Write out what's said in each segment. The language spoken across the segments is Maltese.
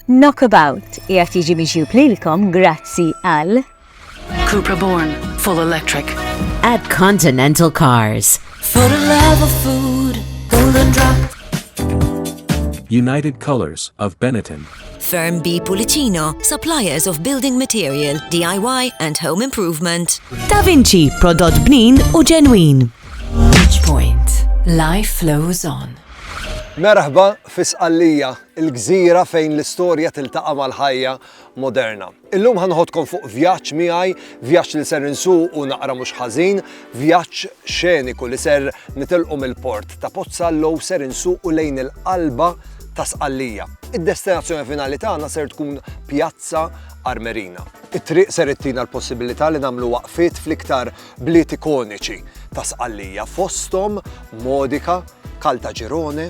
Knockabout qiegħed jiġi miġjub lilkom grazzi għal Cupra Born, full electric. At Continental Cars. For the love of food, golden drop. United Colors of Benetton. Firm B Pulicino, suppliers of building material, DIY and home improvement. Da Vinci, prodott bnin u ġenwin. Point. Life flows on. Merħba fis-qallija il-gżira fejn l-istorja tiltaqa' mal-ħajja moderna. Illum ħanħodkom fuq vjaġġ miegħi, vjaġġ li ser insuq u naqra mhux ħażin, vjaġġ xeniku li ser nitilqu mill-port ta' Pozzallo u ser insuqu lejn il-qalba ta' Sqallija. Id-destinazzjoni finali tagħna ser tkun Pjazza Armerina. It-triq ser ittina l-possibilità li nagħmlu waqfiet fl-iktar bliet ikoniċi ta' Sqallija fosthom Modika, Caltagirone,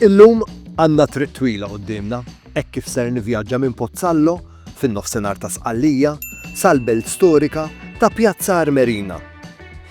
Illum għandna triq twila quddiemna hekk kif ser nivvjaġġa minn Pozzallo fin-nofsinhar ta' Sqallija sal-belt storika ta' Pjazza Armerina.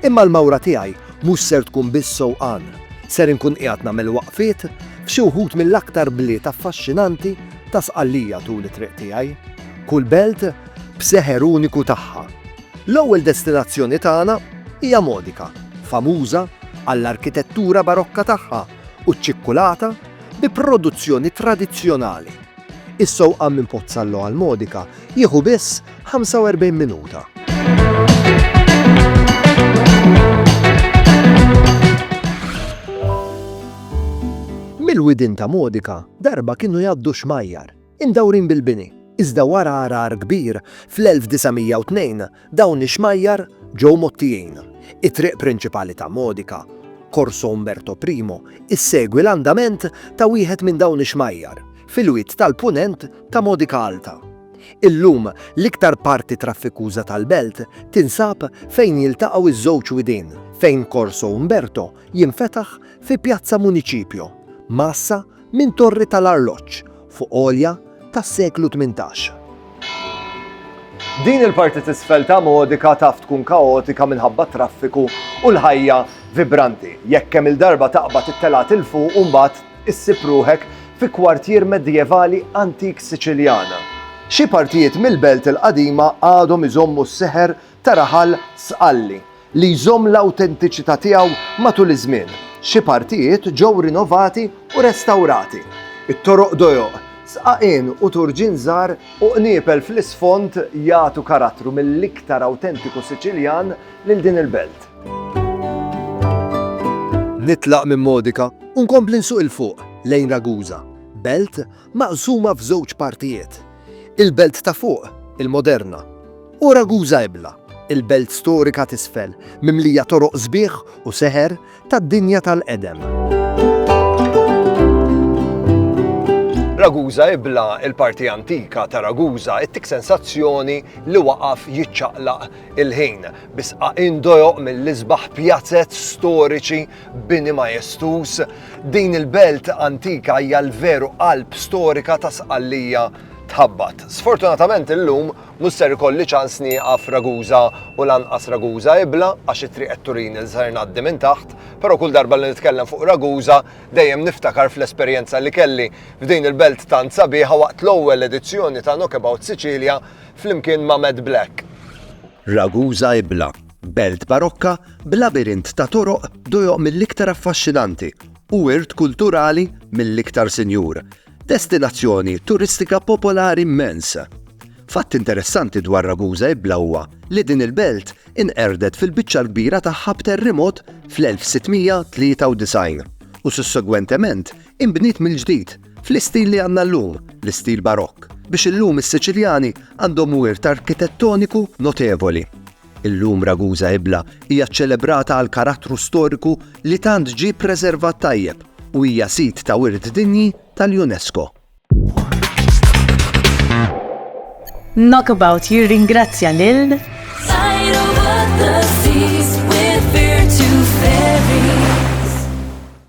Imma l-mawra tiegħi mhux ser tkun biss sewqan, ser inkun qiegħed nagħmel waqfiet f'xi wħud mill-aktar bliet affaxxinanti ta' Sqallija tul it-triq tiegħi, kull belt b'seħer uniku tagħha. L-ewwel destinazzjoni tagħna hija Modica, famuża għall-arkitettura barokka tagħha u ċ-ċikkulata bi produzzjoni tradizzjonali. Is-sewqan minn Pozzallo għal Modica jieħu biss 45 minuta. Mill-widien ta' Modica darba kienu jgħaddu xmajjar Imdawrin bil-bini, iżda wara għargħar kbir fl-1902 dawn ix-xmajjar ġew mgħottijin. It-triq prinċipali ta' Modica, Corso Umberto I, issegwi l-andament ta' wieħed minn dawn ix-xmajjar, fil-wied tal-Punent ta' Modica Alta. Illum, l-iktar parti traffikuża tal-belt tinsab fejn jiltaqgħu ż-żewġ widien fejn Corso Umberto jinfetaħ fi Piazza Municipio, Massa, Minn torri tal-arloġġ fuq għolja tas-seklu tmintax. Din il-parti t'isfel ta' Modica taf tkun kaotika minħabba t-traffiku u l-ħajja vibranti, jekk kemm-il darba taqbad it-telgħat 'il fuq u mbagħad issib ruħek fi kwartier medjevali antik Siċiljan. Xi partijiet mill-belt il-qadima għadhom iżommu s-seħer ta' raħal Sqalli, li jżomm l-awtentiċità tiegħu matul iż-żmien. Xi partijiet ġew rinovati u restawrati. It-toroq dojoq, sqaqien u turġien żgħar u qniepel fl-isfond jagħtu karattru mill-iktar awtentiku Siċiljan lil din il-belt. Nitlaq minn Modica u nkompli nsuq 'il fuq lejn Ragusa, belt maqsuma f'żewġ partijiet, il-Belt ta' Fuq, il-moderna, u Ragusa Ibla, il-Belt Storika t'Isfel, mimlija toroq sbieħ u seħer tad-dinja tal-qedem. Ragusa Ibla, il-parti antika ta' Ragusa, ittik sensazzjoni li waqaf jiċċaqlaq il-ħin, bisqa indojoq mill-isbaħ pjazet storiċi Bini majestuż, din il-belt antika hija l-veru qalb storika ta' Sqallija tħabbat. Sfortunatament illum mhux ser ikolli ċans nieqaf Ragusa u lanqas Ragusa Ibla għax it-triq qed turini li ser ngħaddi minn taħt, però kull darba li nitkellem fuq Ragusa dejjem niftakar fl-esperjenza li kelli f'din il-belt tant sabiħa waqt l-ewwel edizzjoni ta' Knockabout Sicilia flimkien ma' Matt Black. Ragusa Ibla Belt barokka b'labirint ta' toroq dojoq mill-iktar affaxxinanti u wirt kulturali mill-iktar sinjur, destinazzjoni turistika popolari mmens. Fatt interessanti dwar Ragusa Ibla huwa li din il-belt inqerdet fil-biċċa l-kbira tagħha b'terrimot fl-1693 u sussegwentement inbniet mill-ġdid fl-istil li għandna llum, l-istil barokk, biex illum is-Siċiljani għandhom wirt arkitettoniku notevoli. Illum Ragusa Ibla hija ċċelebrata għal karattru storiku li tant ġie ppreservat tajjeb u hija Sit ta' Wirt Dinji tal-UNESCO. Knockabout jirringrazzja lil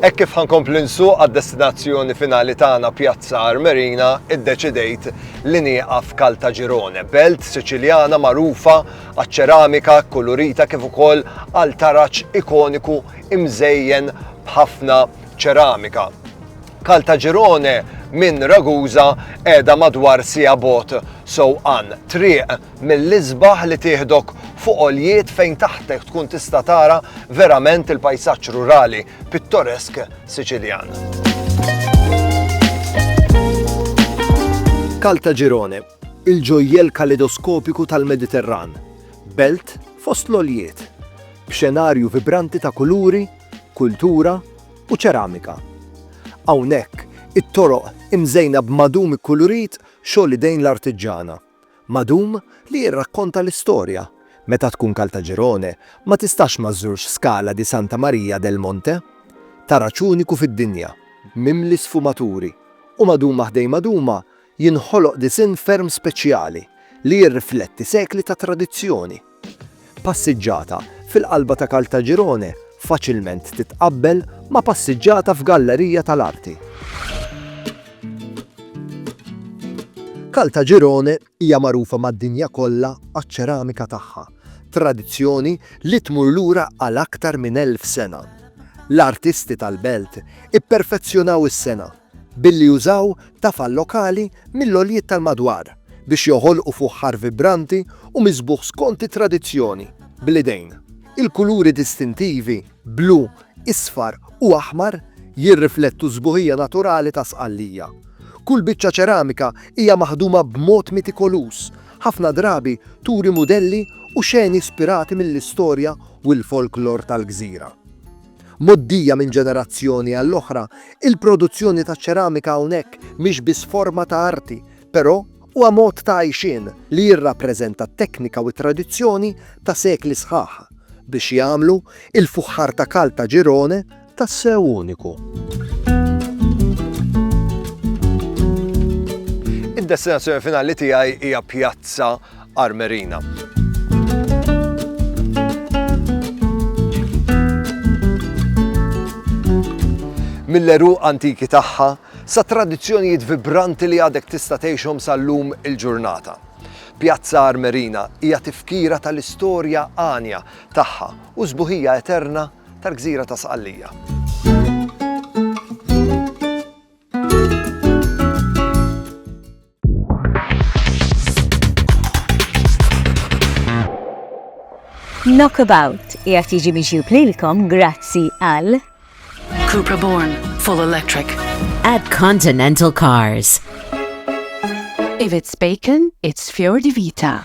Hekk kif ħankompli nsuq għad-destinazzjoni finali tagħna Pjazza Armerina, iddeċidejt li nieqaf Caltagirone, belt Siċiljana magħrufa għaċ-ċeramika kkulurita kif ukoll għal taraġ ikoniku imżejjen b'ħafna ċeramika. Caltagirone minn Ragusa qiegħda madwar siegħa bogħod sewqan triq mill-isbaħ li tieħdok fuq għoljiet fejn taħtek tkun tista' tara verament il-pajsaġġ rurali pittoresk Siċiljan. Caltagirone, il-ġojjel kalidoskopiku tal-Mediterran, belt fost l-oljiet, b'xenarju vibranti ta' kuluri kultura u ċeramika. Hawnhekk it-toroq imżejna b'madum ikkulurit xogħol idejn l-artiġġana. Madum li jirrakkonta l-istorja, meta tkun Kaltaġirone ma tistax ma żżurx Scala di Santa Maria del Monte, taraġ uniku fid-dinja, mimli sfumaturi u maduma ħdejn maduma Jinħoloq disinn ferm speċjali li jirrifletti sekli ta' tradizzjoni. Passiġġata fil-qalba ta' Caltagirone faċilment titqabbel ma' passiġġata f'gallerija tal-arti. Caltagirone hija magħrufa mad-dinja kollha għaċ-ċeramika tagħha, tradizzjoni li tmur lura għal aktar minn elf sena. L-artisti tal-belt ipperfezzjonaw is-sengħa Billi użaw tafal lokali mill-għoljiet tal-madwar biex joħolqu fuħħar vibranti u miżbugħ skont it-tradizzjoni, bl-idejn. Il-kuluri distintivi, blu, isfar u aħmar, jirriflettu s-sbuħija naturali ta' Sqallija. Kull biċċa ċeramika hija maħduma b'mod mitikoluż, ħafna drabi turi mudelli u xeni ispirati mill-istorja u l-folklor tal-gżira. Mgħoddija minn ġenerazzjoni għall-oħra, il-produzzjoni taċ-ċeramika hawnhekk mhix biss forma ta' arti, però huwa mod ta' għajxien li jirrappreżenta t-teknika u t-tradizzjoni ta' sekli sħaħ, biex jagħmlu l-fuħħar ta' Caltagirone tassew uniku. Id-destinazzjoni finali tiegħi hija pjazza Armerina. mill-għeruq antiki tagħha sa tradizzjonijiet vibranti li għadek tista' tgħixhom sal-lum il-ġurnata. Pjazza Armerina hija tifkira tal-istorja għanja tagħha u żbuħija eterna tal-gżira ta' Sqallija. Knockabout qiegħed jiġi miġjub lilkom grazzi għal Cupra Born Full Electric at Continental Cars. If it's bacon, it's Fjordi Vita.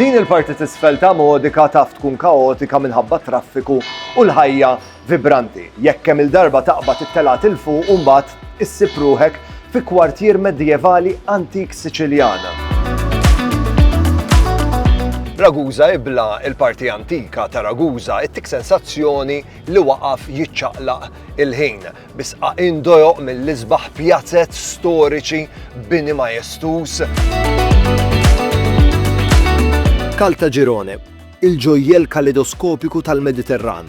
Din il-parti tisfel ta' modika taf tkun kaotika minħabba traffiku u l-ħajja vibranti. Jekk kemm il-darba taqbad it-telat il-fuq u mbagħad Issib ruħek fi kwartier Medjevali antik Siċiljan. Ragusa ibla il-parti antika ta' Ragusa ittik sensazzjoni li waqaf jiċċaqlaq il-ħin. Bisqa indojoq mill-isbaħ pjazet storiċi bini majestus. Kalta Girone, il-ġojjel kalidoskopiku tal-Mediterran,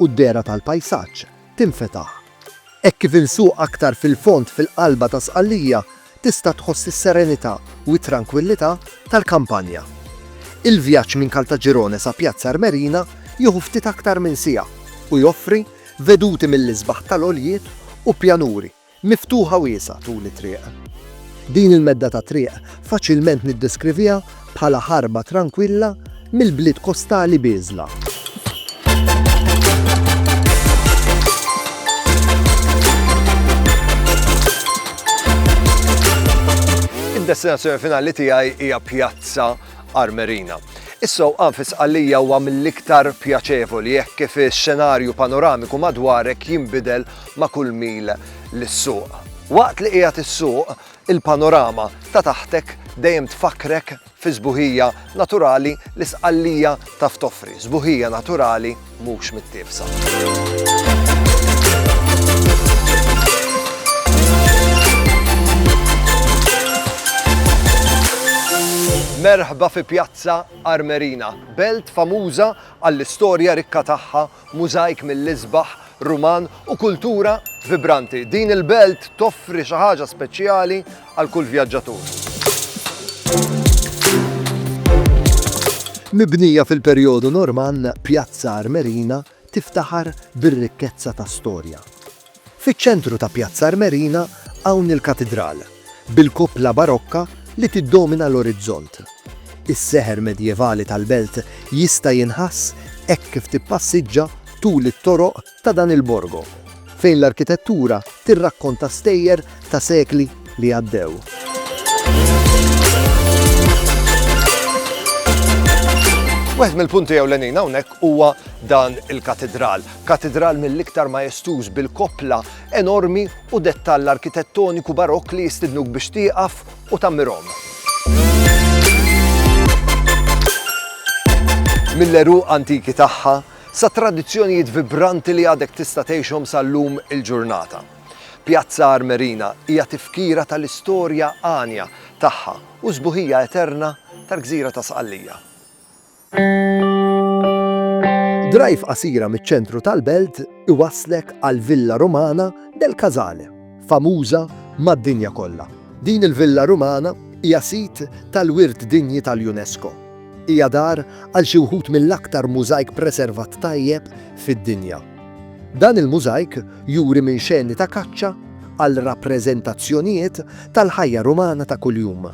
u d-dehra tal-pajsaġġ tinfetaħ. Hekk kif insuq aktar fil-fond fil-qalba ta' Sqallija tista' tħoss is-serenità u t-trankwillità tal-kampanja. Il-vjaġġ minn Caltagirone sa Piazza Armerina jieħu ftit aktar minn siegħa u joffri veduti mill-isbaħ tal-għoljiet u pjanuri. Miftuħa wiesgħa tul it-triq. Din il-medda ta' triq faċilment niddeskriviha bħala ħarba trankwilla mill-bliet kostali bieżla. Id-destinazzjoni finali tiegħi hija Pjazza Armerina. Issow għanfis għalija huwa mill-iktar pjaċevoli jekk kif ix-xenarju panoramiku madwarek jinbidel ma' kull mil lis-suq. Waqt li qiegħed issuq, il-panorama ta' taħtek dejjem tfakkrek fis-sbuħija naturali li Sqallija taf toffri, sbuħija naturali mhux mittiefsa. Merħba fi Pjazza Armerina, belt famuża għall-istorja rikka tagħha Mużajk mill-isbaħ Ruman u kultura vibranti, din il-belt toffri xi ħaġa speċjali għal kull vjaġġatur. Mibnija fil-perjodu Normann, Pjazza Armerina tiftaħar bir-rikkezza ta' storja, Fiċ-ċentru ta' Pjazza Armerina hawn il-Katidral, bil-kupola barokka li tiddomina l-orizzont. Is-seħer medjevali tal-belt jista' jinħass hekk kif tippassiġġa tul it-toroq ta' dan il-borgo, fejn l-arkitettura tirrakkonta stejjer ta' sekli li għaddew. Wieħed mill-punti ewlenin hawnhekk huwa dan il-Katidral. Katidral mill-iktar majestuż bil-koppla enormi u dettall arkitettoniku Barokk li jistidnuk biex tieqaf u tgħammirhom. Mill-għeruq antiki tagħha sat-tradizzjonijiet vibranti li għadek tista' tgħixhom sal-lum il-ġurnata. Pjazza Armerina hija tifkira tal-istorja għanja tagħha u sbuħija eterna tal-gżira ta' Sqallija. Drive qasira miċ-ċentru tal-belt iwasslek għall-Villa Romana del Casale, famuża mad-dinja kollha. Din il-Villa Romana hija sit tal-Wirt Dinji tal-UNESCO. Hija dar għal xi wħud mill-aktar mużajk preservat tajjeb fid-dinja. Dan il-mużajk juri minn xeni ta' kaċċa għal rappreżentazzjonijiet tal-ħajja Rumana ta' kuljum.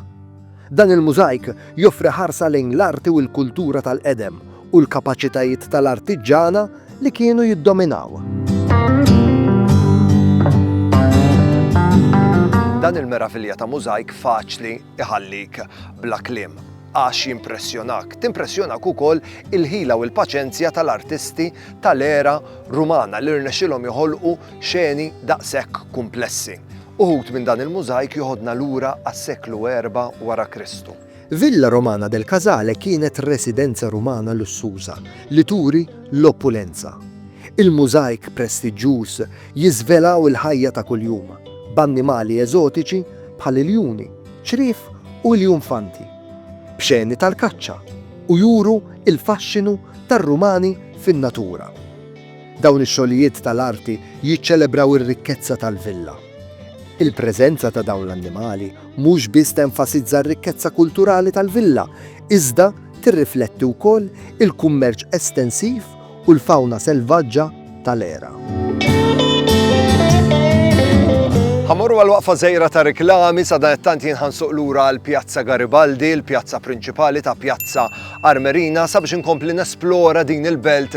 Dan il-mużajk joffri ħarsa lejn l-arti u l-kultura tal-qedem u l-kapaċitajiet tal-artiġġana li kienu jiddominaw. Dan il-meravilja ta' mużajk faċli iħallik bla kliem għax jimpressjonak. Timpressjonak ukoll il-ħila u l-paċenzja tal-artisti tal-era Rumana li rnexxilhom joħolqu xeni daqshekk kumplessi. Uħud minn dan il-mużajk joħodna lura għas-seklu erba' wara Kristu. Villa Romana del Casale kienet residenza Rumana lussuża li turi l-opulenza. Il-mużajk prestiġġjuż jiżvelaw il-ħajja ta' kuljum, b'annimali eżotiċi bħal iljuni, ċriev u iljunfanti, b'xeni tal-kaċċa, u juru l-faxxinu tar-Rumani fin-natura. Dawn ix-xogħlijiet tal-arti jiċċelebraw ir-rikkezza tal-villa. Il-preżenza ta' dawn l-annimali mhux biss tenfasizza r-rikkezza kulturali tal-villa, iżda tirrifletti wkoll il-kummerċ estensiv u l-fawna selvaġġa tal-era. Ħa morru għal waqfa żgħira ta' riklami sadanittant jien ħansuq lura għal Pjazza Garibaldi, l-pjazza prinċipali ta' Pjazza Armerina sabiex inkompli nesplora din il-belt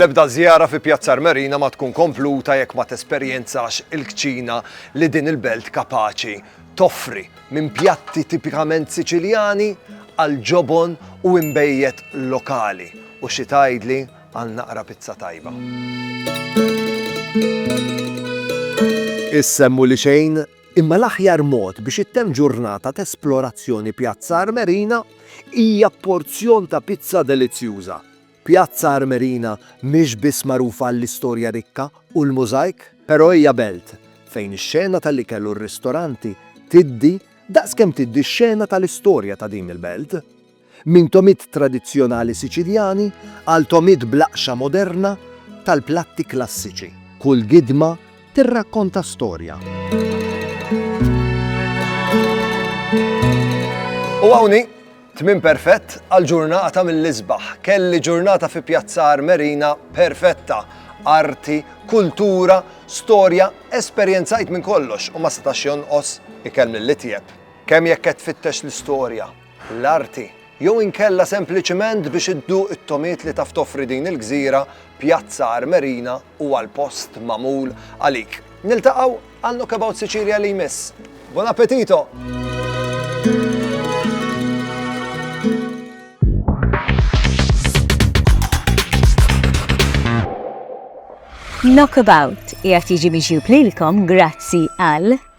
L-ebda żjara fi Pjazza Armerina ma tkun kompluta jekk ma tesperjenzax il-kċina li din il-belt kapaċi toffri, minn pjatti tipikament Siċiljani għal ġobon u imbejjed lokali, u xi tgħidli Għal naqra pizza tajba. Issemmu li xejn, imma l-aħjar mod biex ittemm ġurnata t'esplorazzjoni Pjazza Armerina hija b'porzjon ta' pizza delizzjuża. Pjazza Armerina mhix biss magħrufa għall-istorja rikka u l-mużajk, però hija belt fejn ix-xena tal-ikel u r-ristoranti tiddi daqs kemm tiddi x-xena tal-istorja ta' din il-belt. Minn togħmiet tradizzjonali Siċiljani għal togħmiet bl-aqxa moderna tal-platti klassiċi, kull gidma tirrakkonta storja. U hawn hi, tmiem perfett għal ġurnata mill-isbaħ. Kelli ġurnata fi Pjazza Armerina perfetta. Arti, kultura, storja, esperjenzajt minn kollox u ma setax jonqos ikellem lill-itjeb. Kemm jekk qed tfittex l-istorja, l-arti, jew inkella sempliċement biex idduq it-togħmiet li taf toffri din il-gżira, Pjazza Armerina huwa l-post magħmul għalik. Niltaqgħu għal Knockabout Sicilia li jmiss. Buon appetito! Knockabout jgħat jiġi miġjub lilkom grazzi għal